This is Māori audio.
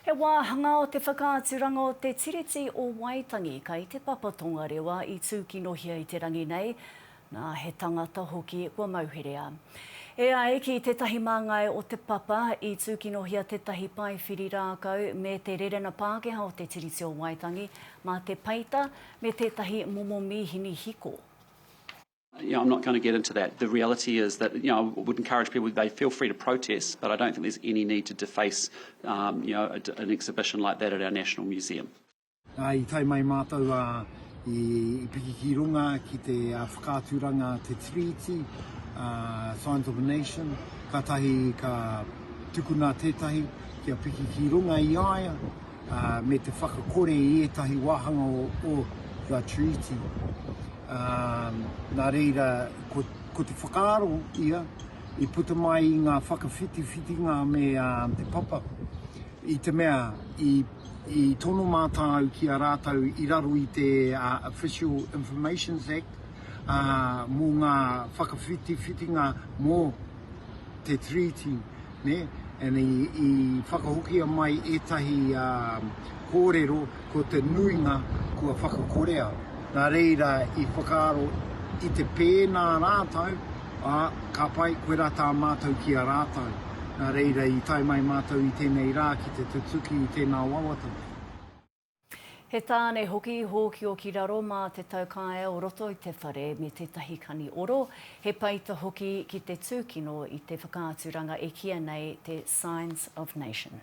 He wāhanga o te whakaaturanga o te Tiriti o Waitangi kai te Papa Tongarewa i tūkinohia i te rangi nei, nā, he tangata hoki kua mauherea. E ai ki tētahi māngai o te Papa, i tūkinohia tētahi paewhiri rākau me te rerena Pākehā o te Tiriti o Waitangi mā te peita me tētahi momo mīhini hiko. You know, I'm not going to get into that. The reality is that you know, I would encourage people they feel free to protest, but I don't think there's any need to deface um, you know, a, an exhibition like that at our National Museum. I tai mai mātou a i, i piki ki runga ki te uh, whakaaturanga te treaty, uh, Science of a Nation, ka tahi ka tukuna tētahi kia piki ki runga i aia, me te whakakore i ētahi wāhanga o The Treaty, ā, nā reira, ko te whakaaro ia i puta mai i ngā whakawhitiwhitinga me te papa, i te mea, i tono mātāu ki a rātou i raro i te Official Informations Act, ā, mō ngā whakawhitiwhitinga mō. te Treaty, nē, and i, i whakahokia mai ētahi um, kōrero ko te nuinga kua whakakorea. Nā reira i whakaaro i te pēnā rātou, ā, ka pai koe rā tā mātou ki a rātou. Nā reira i tae mai mātou i tēnei rā ki te tutuki i tēnā wawata. He tāne hoki i hōkio ki raro mā te taukaea o roto i te whare me tētahi kani oro, he peita hoki ki te tūkino i te whakaaturanga e kīia nei te Signs of Nation.